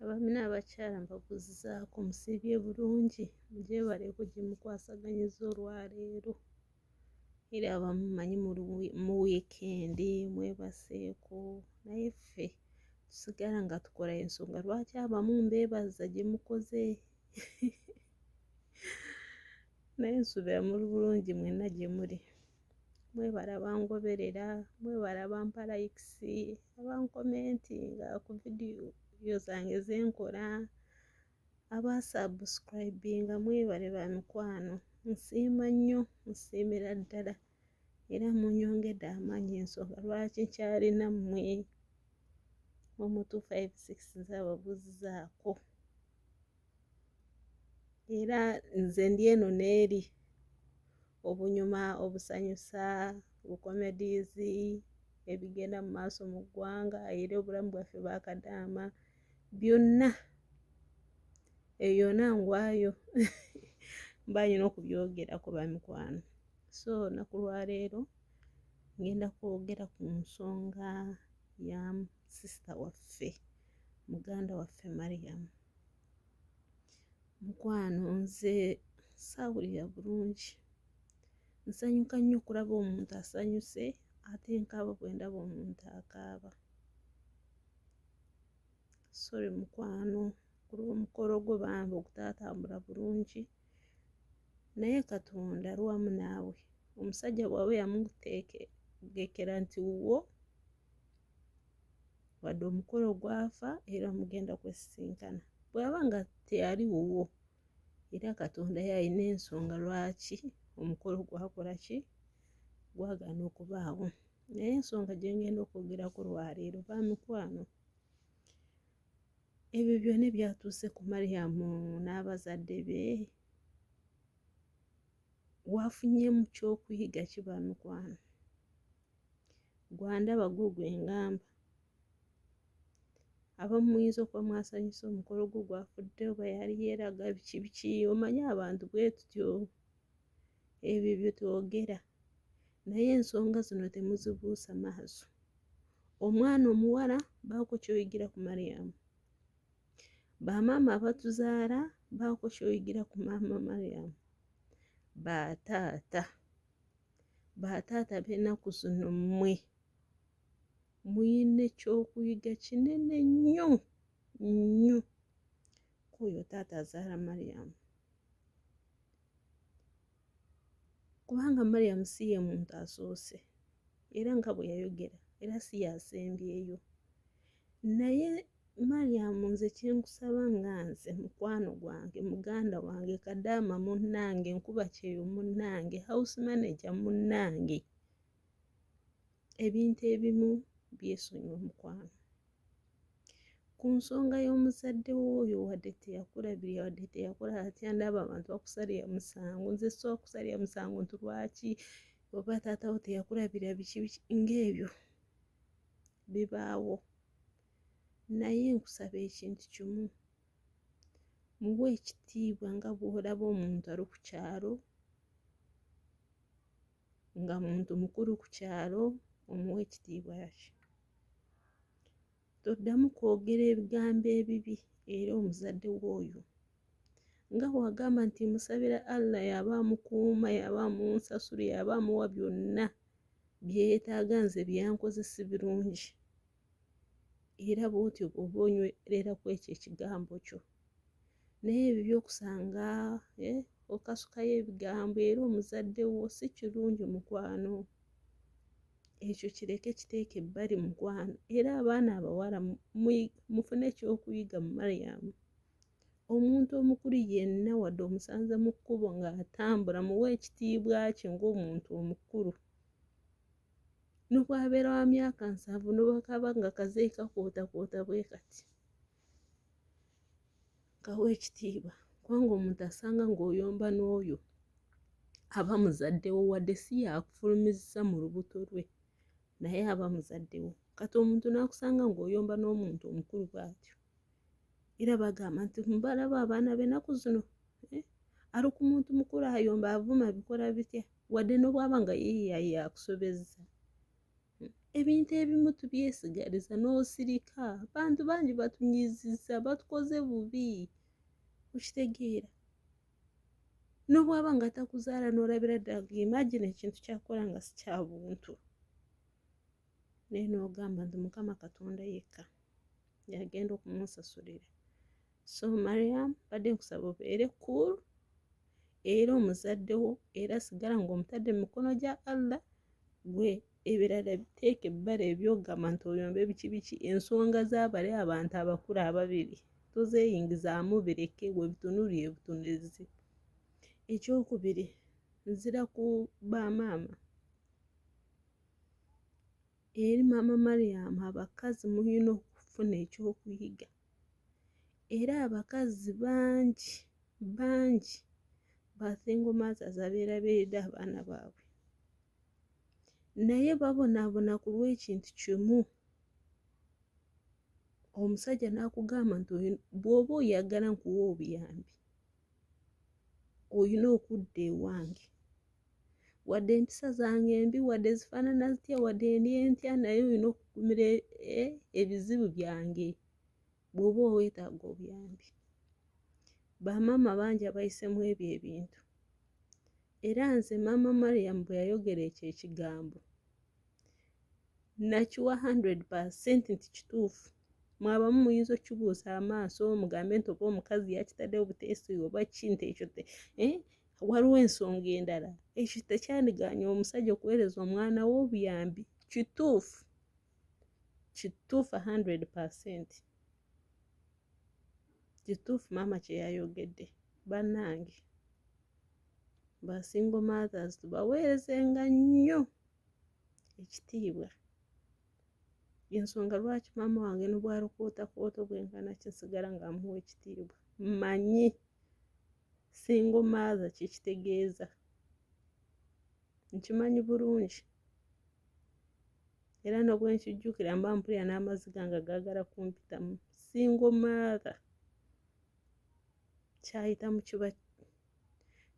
abaami n'abakyala mbabuzizaako musiibye bulungi mugyebale kugimukwasaganyizza olwaleero era abamu manyi mu wiikendi mwebaseeko naye ffe tusigala nga tukola ensonga lwaki abamu mbeebaza gye mukoze naye nsuubira muli bulungi mwenna gye muli mwebala bangoberera mwebala bampa likes abankomentinga ku vidiyo zange zenkola abasubscribinga mwebale ba mikwano nsiima nnyo nsiimira ddala era munyongedde amaanyi ensonga lwaki nkyalina mmwe omu 256 zababuzizaako era nze ndi eno n'eri obunyuma, obusanyusa, bu-comedies, ebigenda mu maaso mu ggwanga era obulamu bwaffe bwa kadaama byonna ebyo yona ngwayo mba nyina okubyogerako bamikwano so naku lwaleero ngenda kwogera ku nsonga ya sisita waffe muganda waffe mariyamu Mukwano nze saawulira bulungi. Nsanyuka nnyo okulaba omuntu asanyuse ate nkaaba bwe ndaba omuntu akaaba. Sorry mukwano kuba omukolo gwo bambi ogutaatambula bulungi naye Katonda ali wamu naawe. Omusajja bw'aba yamuteekekera nti wuwo wadde omukolo gwafa era mugenda kwesisinkana bwaba nga teyali wuwo era katonda yalina ensonga lwaki omukolo gwakola ki gwagaana okubaawo naye ensonga gyengenda okwogerako lwaleero ba mikwano ebyo byona ebyatuuse ku mariyamu n'abazadde be wafunyemu kyokuyiga kiba mikwano gwa ndaba gwo gwe ngamba abamu muyinza okuba mwasanyusa omukolo gwo gwafudde oba yali yeeraga biki biki omanyi abantu bwe tutyo ebyo bye twogera naye ensonga zino temuzibuusa maaso omwana omuwala baako kyoyigira ku mariyamu bamaama abatuzaala baako kyoyigira ku maama mariyamu bataata Bataata b'ennaku zino mmwe muyina ekyokuyiga kinene nnyo nnyo kwoyo taata azaala mariyamu kubanga mariyamu si ye muntu asoose era nga bwe yayogera era si yasembyeyo naye Mariam nze kyenkusaba nga nze mukwano gwange muganda wange kadaama munnange nkuba kyeyo munnange house manager munnange ebintu ebimu byesonyiwe mukwano ku nsonga y'omuzadde wooyo wadde teyakulabirira wadde teyakola atya ndaba abantu bakusalira musango nze soa kusalira musango nti lwaki oba taatawo teyakulabirira biki biki ng'ebyo bibaawo Naye nkusaba ekintu kimu, muwe ekitiibwa nga bw'olaba omuntu ali ku kyalo nga muntu mukulu ku kyalo omuwa ekitiibwa yakyo. Toddamu kwogera ebigambo ebibi era omuzadde w'oyo nga bw'agamba nti musabira Allah y'aba amukuuma y'aba amunsasula y'aba amuwa byonna bye yeetaaga nze byankoze si birungi. era bwotyo bwoba onywerera ku ekyo ekigambo kyo naye ebyo byokusanga eh, okasukayo ebigambo era omuzadde wo si kirungi mukwano ekyo kireke kiteeke ebbali mukwano era abaana abawala mufune ekyokuyiga mu mariyamu omuntu omukulu yenna wadde omusanze mu kkubo ng'atambula muwa ekitiibwa kye ng'omuntu omukulu nobwabeera wa myaka nsanvu nobwakaba nga kazeeyi kakwotakwoota bwe kati kawa ekitiibwa kubanga omuntu asanga ng'oyomba n'oyo aba muzaddewo wadde si yakufulumizisa mu lubuto lwe naye aba muzaddewo kati omuntu n'akusanga ng'oyomba n'omuntu omukulu bwatyo era bagamba nti mbalaba abaana benaku zino eh, ali ku muntu mukulu ayomba avuma bikola bitya wadde nobwaba nga yeyaye akusobezza hmm, ebintu ebimu tubyesigaliza n'osirika bantu bangi batunyiziza batukoze bubi okitegeera nobwaba nga takuzaala nolabira ddala imagine ekintu kyakola nga sikyabuntu naye n'ogamba nti mukama katonda yekka yagenda okumusasulira so mariam badde nkusaba obeere cool era omuzadde wo era sigala ng'omutadde mu mikono gya allah gwe ebirala biteeka ebbala ebyogamba nti oyomba ebiki biki ensonga z'abali abantu abakulu ababiri tozeeyingizaamu bireke we bitunulire butunulizi ekyokubiri nzira ku bamaama Eri maama Mariam abakazi mulina okufuna ekyokuyiga era abakazi bangi bangi ba single mothers abeerabiridde abaana baabwe naye babonaabona ku lw'ekintu kimu omusajja n'akugamba nti bw'oba oyagala nkuwa obuyambi olina okudda ewange wadde empisa zange embi wadde zifaanana zitya wadde ndi entya naye olina okugumira e, e, ebizibu byange bw'oba oweetaaga obuyambi bamaama bangi abayisemu ebyo ebintu era nze maama mariam bwe yayogera ekyo ekigambo nakiwa 100 nti kituufu mwabamu muyinza okukibuusa amaaso mugambe nti oba omukazi yakitadde obuteesi oba kintu ekyo eh, waliwo ensonga endala ekyo tekyandiganya omusajja okuweereza omwana we obuyambi kituufu kituufu 100 kituufu maama kyeyayogedde bannange basingo mothers tubaweerezenga nnyo ekitiibwa ensonga lwaki maama wange nobwalukootakooto bwenkana kinsigala nga amuwa ekitiibwa manyi singo maaza kyekitegeeza nkimanyi bulungi era nobwenkijjukira mba mpulira n'amaziga nga gaagala kumpitamu singo maaza kyayitamu kiba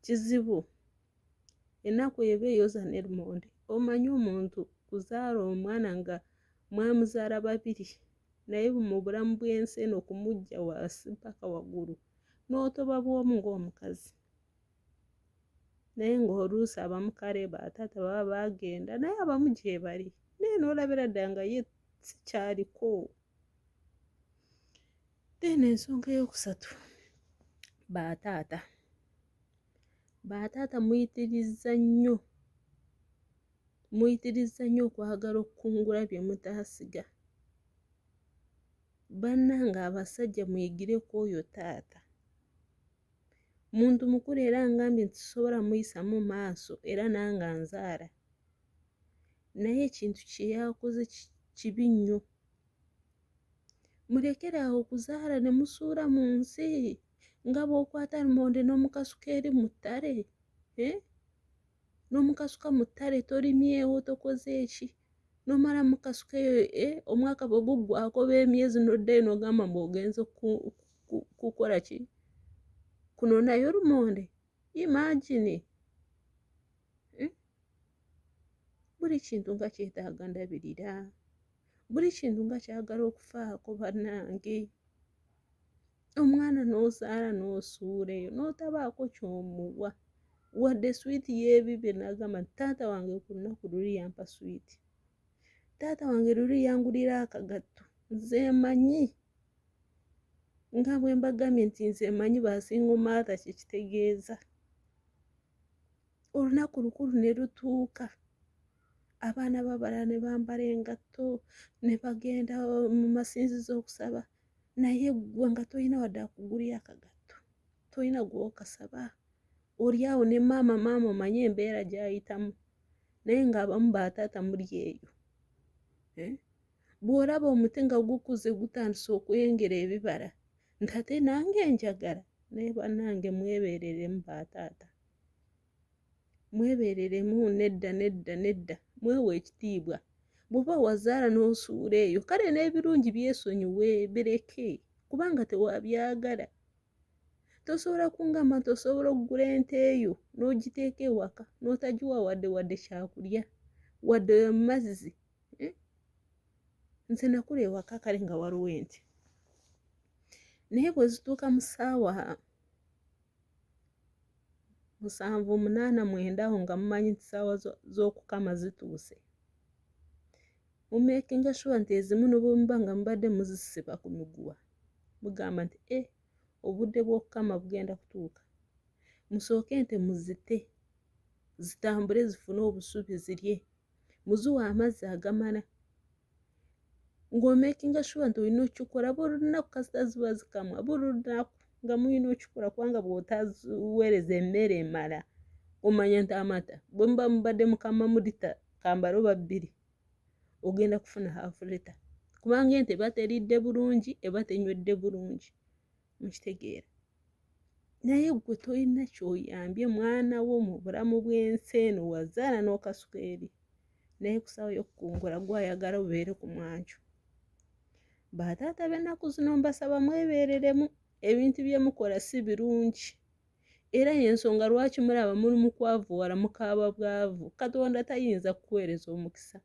kizibu enaku eba eyoza nelmonde omanyi omuntu kuzaala omwana nga mwamuzaala babiri naye mubulamu bwensi eno okumujja wasi mpaka wagulu notoba bwomu ngaomukazi naye ngaoluusi abamukaleba taata baba bagenda naye abamu gyebali naye nolabira dda nga ye sikyaliko then ensonga eyokusatu bataata Bataata muyitirizza nnyo muyitirizza nnyo okwagala okukungula bye mutaasiga. Bannange abasajja muyigire ku oyo taata. Muntu mukulu era ngambye nti sisobola muyisamu maaso era nange anzaala. Naye ekintu kye yakoze kibi nnyo mulekere awo okuzaala ne musuula mu nsi nga bw'okwata lumonde n'omukasuka eri mu ttale eh? n'omukasuka mu ttale tolimyewo tokoze eki nomala mukasuka eyo eh? omwaka bwe guggwako oba emyezi n'oddayo n'ogamba mbu ogenze kukola ki kunonayo lumonde imagine hmm? buli kintu nga kyetaaga ndabirira buli kintu nga kyagala okufaako bannange omwana n'ozaala n'osuula eyo n'otabaako kyomuwa wadde swiiti y'ebibye n'agamba nti taata wange ku lunaku luli yampa swiiti taata wange luli yangulira akagatto nze manyi nga bwe mbagambye nti nze manyi basingo maatha kyekitegeeza olunaku lukulu ne lutuuka abaana babalala ne bambala engatto ne bagenda mu masinzizo okusaba naye ggwe nga tolina wadde akugulira akagatto tolina gwokasaba oli awo ne maama maama omanye embeera gyayitamu naye ng'abamu bataata muli eyo eh? bw'olaba omuti nga gukuze gutandise okwengera ebibala nti ate nange njagala naye bannange mwebeereremu ba taata mwebeereremu nedda nedda nedda mwewa ekitiibwa bw'oba wazaala n'osuula eyo kale n'ebirungi byesonyiwe bireke kubanga tewabyagala tosobola kungamba nti osobola okugula ente eyo n'ogiteeka ewaka n'otagiwa wadde wadde kyakulya wadde mazzi hmm? nze nakula ewaka kale nga waliwo enti naye bwe zituuka mu ssaawa musanvu omunaana mwenda awo nga mumanyi nti ssaawa z'okukama zituuse mumekinga shuwa nti ezimu nobwemuba nga mubadde muzisiba ku miguwa mugamba nti e obudde bw'okukama bugenda kutuuka musooke nte muzite zitambule zifune obusubi zirye muziwa amazzi agamala ng'omekinga shuwa nti olina okikola buli lunaku kasita ziba zikamwa buli lunaku nga mulina okikola kubanga bw'otaziweereza emmere emala omanya nti amata bwe muba mubadde mukama mu lita kambala oba bbiri ogenda kufuna haafu lita kubanga ente eba teridde bulungi eba tenywedde bulungi mukitegeera naye gwe tolina kyoyambye mwana wo mu bulamu bw'ensi eno wazaala n'okasuka eri naye kusawo yokukungula gwayagala obeere ku mwanju bataata b'ennaku zino mbasaba mwebeereremu ebintu byemukola si birungi era yensonga lwaki mulaba muli mukwavu wala mukaaba bwavu katonda tayinza kukuweereza omukisa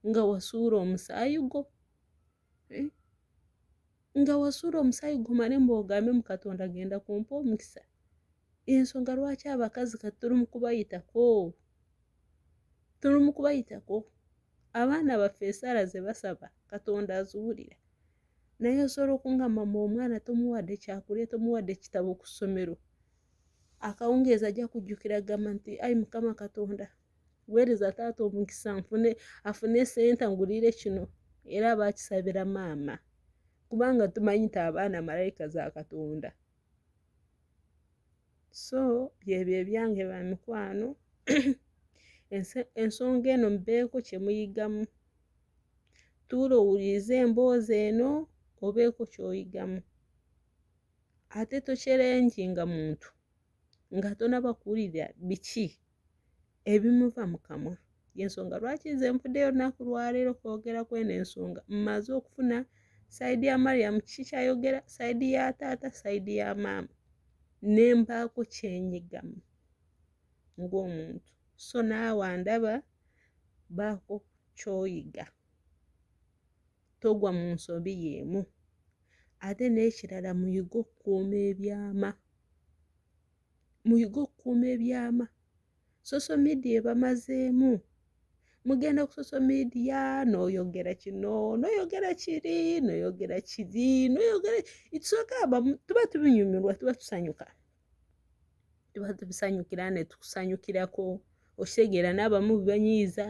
nga wasuula omusaayi gwo eh? nga wasuula omusaayi gumale mbu ogambe mu katonda genda kumpa omukisa ensonga lwaki abakazi kati tuli mu kubayitako tuli mu kubayitako abaana baffe esaala ze basaba katonda aziwulira naye osobola okunga mama omwana tomuwadde kyakulya tomuwadde kitabo ku ssomero akawungeezi ajja kujjukira gamba nti ayi mukama katonda kuweereza taata omukisa nfune afune sente ngulire kino era aba akisabira maama kubanga tumanyi nti abaana malayika za katonda so byebyo ebyange ba mikwano ensonga eno mubeeko kye muyigamu tuula owulirize emboozi eno obeeko kyoyigamu ate tokyerenjinga muntu nga tonabakuwulira biki ebimuva mu kamwa yensonga lwaki nze nvuddeyo olunaku lwaleero kwogera kweno ensonga mmaze okufuna sayidi ya mariyamu kiki kyayogera sayidi ya taata sayidi ya maama ne mpaako kyenyigamu ng'omuntu so naawe andaba baako kyoyiga togwa mu nsobi y'emu ate n'ekirala muyige okukuuma ebyama muyige okukuuma ebyama soso midia ebamazeemu mugenda ku soso midia noyogera kino noyogera kiri noyogera kiri noyogera itusogamba tuba tubinyumirwa tuba tusanyuka tuba tubisanyukira netukusanyukirako okitegeera n'abamu bibanyiiza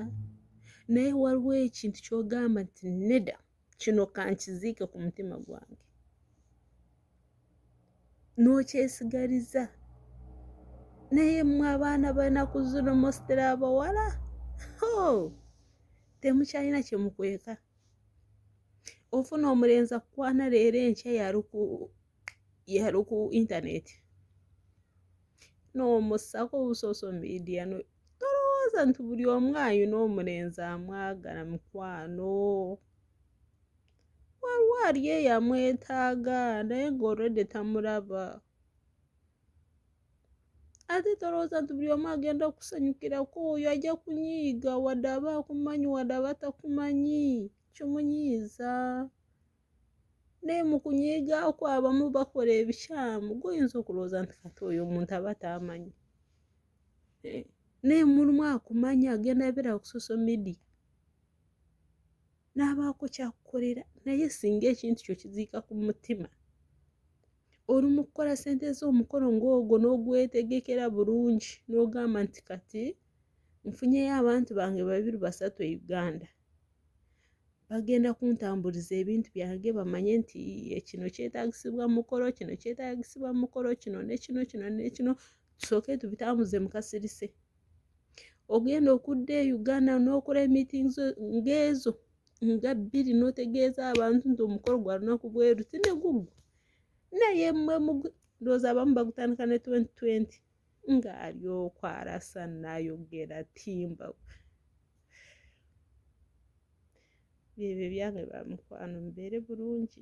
naye waliwo ekintu kyogamba nti neda kino kankiziike ku mutima gwange n'okyesigaliza naye mwe abaana banaku zino mositera abawala temukyalina kyemukweka ofuna omulenzi akukwana leero enkya yaluku yali ku internet n'omussako obusoso media no tolowooza nti buli omu ayina omulenzi amwagala mukwano waliwo ali eyamwetaaga naye nga olwedde tamulaba ate tolowooza nti buli omu agenda okusanyukirako oyo ajja kunyiiga wadde aba akumanyi wadde aba takumanyi kimunyiiza naye mukunyiiga okwo abamu bakola ebikyamu goyinza okulowooza nti kati oyo omuntu aba taamanyi eh, naye mulimu akumanya agenda abeerawo ku social media n'abaako kyakukolera naye singa ekintu kyo kiziika ku mutima oli mu kukola sente z'omukolo ng'ogwo n'ogwetegekera bulungi n'ogamba nti kati nfunyeyo abantu bange babiri basatu e uganda bagenda kuntambuliza ebintu byange bamanye nti kino kyetagisibwa mukolo kino kyetagisibwa mukolo kino nekino kino nekino tusooke tubitambuze mukasirise ogenda okudda e uganda n'okola emiting ngaezo nga bbiri n'otegeeza abantu nti omukolo gwa lunaku bweru tinegugu naye mwe ndowooza abamu bagutandika ne 2020 ng'ali okwarasa nayogera timba byebyo byange bamukwano mubeere bulungi